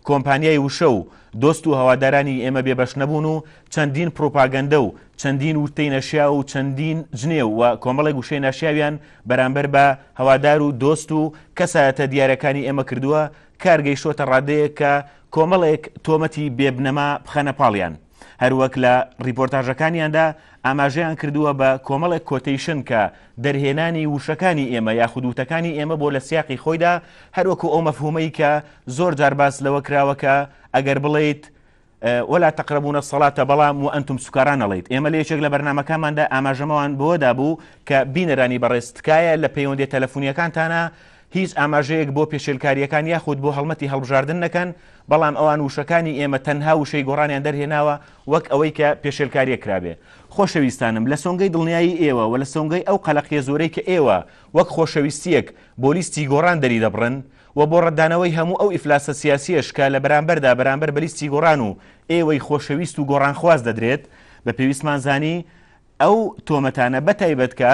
کۆمپانیای وشە و دۆست و هەوادارانی ئێمە بێ بەش نەبوون و چەندین پڕوپاگەندە و چەندین ووتەی نەشیاو و چەندین جنێو و کۆمەڵێک وشەی ناشیاویان بەرامبەر بە هەوادار و دۆست و کەسایەتە دیارەکانی ئێمە کردووە کار گەیشتووەتە ڕادەیەک کە کۆمەڵێک تۆمەتی بێ بنەما بخەنە پاڵیان. هەروەک لە ڕیپۆرتاژەکانیاندا ئاماژەیان کردووە بە کۆمەڵێک کۆتەیشن کە دەرهێنانی وشەکانی ئێمە یاخود وتەکانی ئێمە بۆ لە سیاقی خۆیدا هەروەکو ئەو مەفهومەی کە زۆر جار باس لەوە کراوەکە ئەگەر بڵیت ولا تقربون الصلاة بەڵام و ئەنتم سوکاران نەڵیت ئێمە لە یەکێک لە بەرنمەکانماندا ئاماژەمەوان بۆدا بوو کە بینەرانی بەڕێز تکایە لە پەیوەندی تەلەفۆنیەکانتانە هیچ ئاماژەیەک بۆ پێشێلکارییەکان یاخود بۆ هەڵمەتی هەڵبژاردن نەکەن، بەڵام ئەوان وشەکانی ئێمە تەنها وشەی گۆڕانیان دەرهێناوە وەک ئەوەی کە پێشێلکارییەک کرابێ. خۆشەویستانم، لە سۆنگەی دڵنیایی ئێوە و لە سۆنگەی ئەو قەلەقییە زۆرەی کە ئێوە وەک خۆشەویستییەک بۆ لیستی گۆڕان دەریدەبڕن و بۆ ڕەتدانەوەی هەموو ئەو ئیفلاسە سیاسییەش کە لە بەرامبەردا بەرامبەر بە لیستی گۆڕان و ئێوەی خۆشەویست و گۆڕانخواز دەدرێت، بە پێویستمان زانی ئەو تۆمەتانە بەتایبەت کە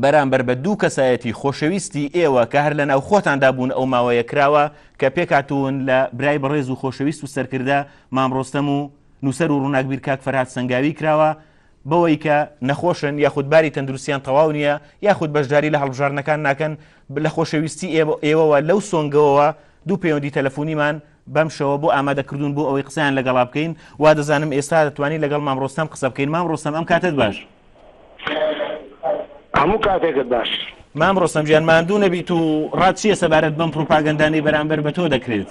بەرامبەر بە دوو کەسایەتی خۆشەویستی ئێوە کە هەر لە ناو خۆتاندا بوون ئەو ماوەیە کراوە کە پێکاتون لە برای بەڕێز و خۆشەویست و سەرکردە مامڕۆستەم و نووسەر و ڕووناکبیر کاک فەرهاد سەنگاوی کراوە بەوەی کە نەخۆشن یاخود باری تەندروستیان تەواو نییە یاخود بەشداری لە هەڵبژاردنەکان ناکەن لە خۆشەویستی ئێوەوە لەو سۆنگەوەوە دوو پەیوەندی تەلەفۆنیمان بەم شەوە بۆ ئامادە کردوون بۆ ئەوەی قسەیان لەگەڵا بکەین وا دەزانم ئێستا دەتوانین لەگەڵ مام ڕۆستەم قسە بکەین مام ڕۆستەم ئەم کاتت باش هەموو کاتێکت باش مام ڕۆستەم گیان ماندوو نەبیت و ڕات چییە سەبارەت بەم پروپاگەندانەی بەرامبەر بە تۆ دەکرێت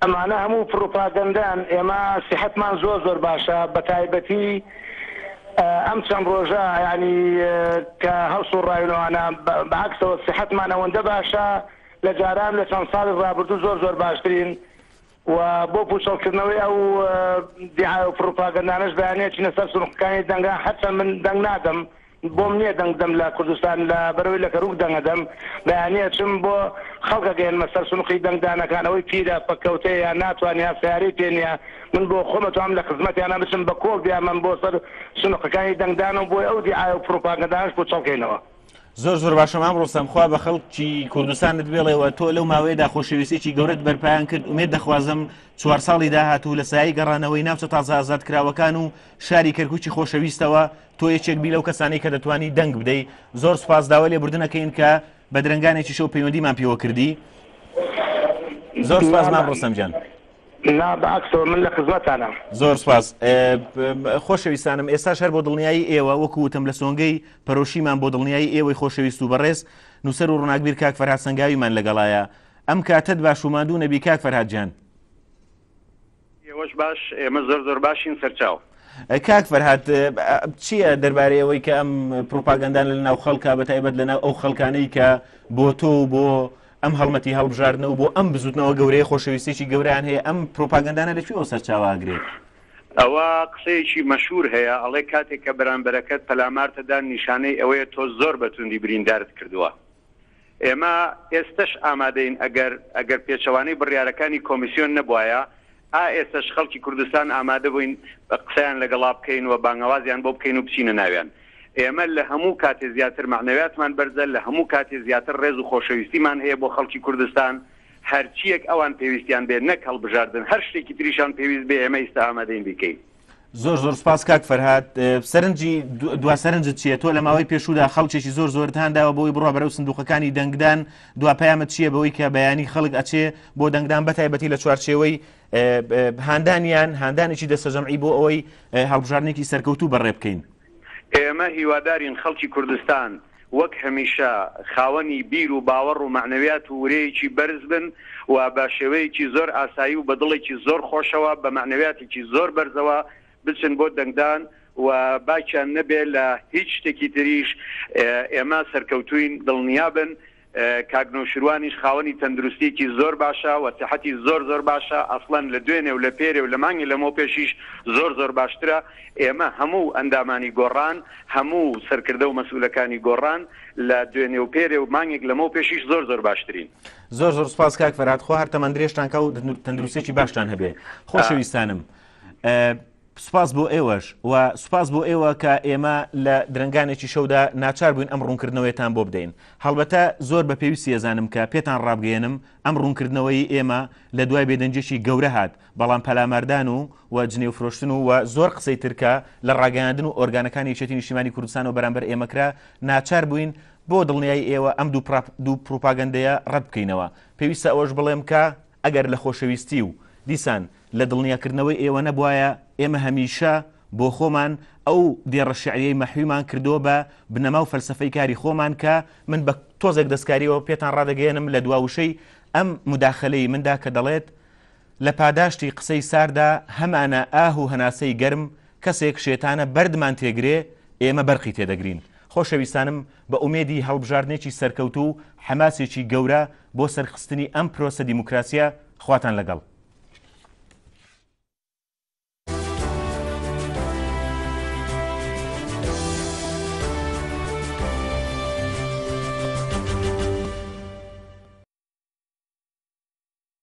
ئەمانە هەموو پڕوپاگەندەن، ئێمە سیحەتمان زۆر زۆر باشە بەتایبەتی ئەم چەند ڕۆژە یانی کە هەڵسوڕاوینەوانە بەعەکسەوە سیحەتمان ئەوەندە باشە لە جاران لە چەند ساڵی ڕابردوو زۆر زۆر باشترین و بۆ پوچەڵکردنەوەی ئەو دیعایەو پڕوپاگەندانەش بەیانیەچینە سەر سنوقەکانی دەنگە هەرچەند من دەنگ نادەم بۆم نیە دەنگ بدەم لە کوردستان لە بەرەوەی لە کەروک دەنگ ئەدەم بەیانی ئەچم بۆ خەڵک ئەگەیەنمە سەر سونقی دەنگ دانەکان ئەوەی پیرە پەککەوتەیە ناتوانیا سەیارەی پێ نیە من بۆ خۆم ئەتوانم لە خزمەتیانا بچم بە کۆڵ بیانبەم بۆ سەر سونقەکانی دەنگ دان و بۆ ئەو دیعایە و پروپاگەندانەش پوچەڵ کەینەوە. زۆر زۆر باشە مام ڕۆستەم خوا بە خەڵکی کوردستانت بێڵێ و تۆ لەو ماوەیەدا خۆشەویستێکی گەورەت بەرپایان کرد ئومێد دەخوازم چوار ساڵی داهاتوو لە سایەی گەڕانەوەی ناوچە تازە ئازادکراوەکان و شاری کەرکوکی خۆشەویستەوە تۆ یەکێک بی لەو کەسانی کە دەتوانی دەنگ بدەی زۆر سپاس داوای لێبوردنەکەین کە بە درنگانێکی شەو پەیوەندیمان پێوە کردی زۆر سپاس مام ڕستم جان لا بەعکسەوە من لە خزمەتانە زۆر سپاس خۆشەویستانم ئێستا شەر بۆ دڵنیایی ئێوە وەکوتم لە سۆنگەی پەرۆشیمان بۆ دڵنیایی ئێوەی خۆشەویست و بەڕێز نووسەر و ڕناگبیر کاک فەرها سنگاویمان لەگەڵایە ئەم کاتت باشوماندوو نەبی کاک فەرهاجان ئێوەش باش ئێمە زۆر زۆر باشین سەرچاو. کاک فەرهاد چییە دەربارەی ئەوەی کە ئەم پروپاگەندان لە ناو خەڵکە بە تایبەت لە ناو ئەو خەڵکانەی کە بۆ تۆ و بۆ ئەم هەڵمەتی هەڵبژاردنە و بۆ ئەم بزوتنەوە گەورەیە خۆشەویستێکی گەوریان هەیە ئەم پروپاگەندانە لەکوێ ئەو سەرچاواگرێت ئەوە قسەیەکی مەشهور هەیە ئەڵێ کاتێک کە بەرامبەرەکەت پەلامارتەدان نیشانەی ئەوەیە تۆ زۆر بەتوندی بریندارت کردووە ئێمە ئێستەش ئامادەین ئەگەر ئەگەر پێچەوانەی بڕیارەکانی کۆمیسیۆن نەبوایە، ئا ئێستەش خەڵکی کوردستان ئامادەبووین قسەیان لەگەڵا بکەین و بانگەوازیان بۆ بکەین و بچینە ناویان. ئێمە لە هەموو کاتێ زیاتر مەعنەویاتمان بەرزە، لە هەموو کاتێ زیاتر ڕێز و خۆشەویستیمان هەیە بۆ خەڵکی کوردستان. هەرچییەک ئەوان پێویستیان بێ، نەک هەڵبژاردن، هەر شتێکی تریشان پێویست بێ، ئێمە ئیستە ئامادەین بیکەین. زۆر زۆر سپاس کاک فەرهاد سەرنجی دو سەرنجت چیە تۆ لە ماوەی پێشودا خەڵکێکی زۆر زۆر هانداوە بۆی بڕە بەرەو سندوقەکانی دەنگدان دو پامە چیە بەوەی کە بەیانی خەڵک ئەچێ بۆ دەنگدان بەتایبەتی لە چوارچێوەی هاندانیان هاندانێکی دەسەجەمعی بۆ ئەوەی هەڵبژارنێکی سەرکەوتوو بەڕێ بکەین ئێمە هیوادارین خەڵکی کوردستان وەک هەمیشە خاوەنی بیر و باوەڕ و مەعنەویات و ورەیەکی بەرز بن و بە شێوەیەکی زۆر ئاسایی و بە دڵێکی زۆر خۆشەوە بە مەعنەویاتێکی زۆر بەرزەوە بچن بۆ دەنگدان و باکیان نەبێ لە هیچ شتێکی تریش ئێمە سەرکەوتووین دڵنیابن کاک نەوشیروانیش خاوەنی تەندروستیەکی زۆر باشە و سەحەتی زۆر زۆر باشە ئەسڵەن لە دوێنێ و لە پێرێ و لە مانگی لەمەو پێشیش زۆر زۆر باشترە ئێمە هەموو ئەندامانی گۆڕان هەموو سەرکردە و مەسئولەکانی گۆڕان لە دوێنێ و پێرێ و مانگێک لەمەو پێشیش زۆر زۆر باشترین زۆر زۆر سپاس کاک فەرات خۆ هەر تەمەندرێژتان کا و تەندروستێکی باشتان هەبێ خۆشەویستانم. سوپاس بۆ ئێوەش و سوپاس بۆ ئێوە کە ئێمە لە درەنگانێکی شەودا ناچار بووین ئەم ڕوونکردنەوەیەتان بۆ بدەین. هەڵبەتە زۆر بە پێویستی ئەزانم کە پێتان ڕابگەیەنم ئەم ڕوونکردنەوەی ئێمە لە دوای بێدەنگییەکی گەورە هات، بەڵام پەلاماردان و و جنێوفرۆشتن و و زۆر قسەی تر کە لە ڕاگەیاندن و ئۆرگانەکانی یەکێتی نیشتیمانی کوردستانەوە بەرامبەر ئێمە کرا، ناچار بووین بۆ دڵنیایی ئێوە ئەم دوو پڕاپ دوو پڕوپاگەندەیە ڕەت بکەینەوە. پێویستە ئەوەش بڵێم کە، ئەگەر لە خۆشەویستی و دیسان لە دڵنیاکردنەوەی ئێوە نەبوایە، ئێمە هەمیشە بۆ خۆمان ئەو دێڕە شیعرییەی مەحویمان کردووە بە بنەما و فەلسەفەی کاری خۆمان کە من بە تۆزێک دەستکارییەوە پێتان ڕادەگەیەنم لە دوا وشەی ئەم موداخەلەی مندا کە دەڵێت لە پاداشتی قسەی سارددا هەمانە ئاه و هەناسەی گەرم کەسێک شێتانە بەردمان تێگرێ ئێمە بەرقی تێدەگرین خۆشەویستانم بە ئومێدی هەڵبژاردنێکی سەرکەوتوو و حەماسێکی گەورە بۆ سەرخستنی ئەم پرۆسە دیموکراسیە، خواتان لەگەڵ.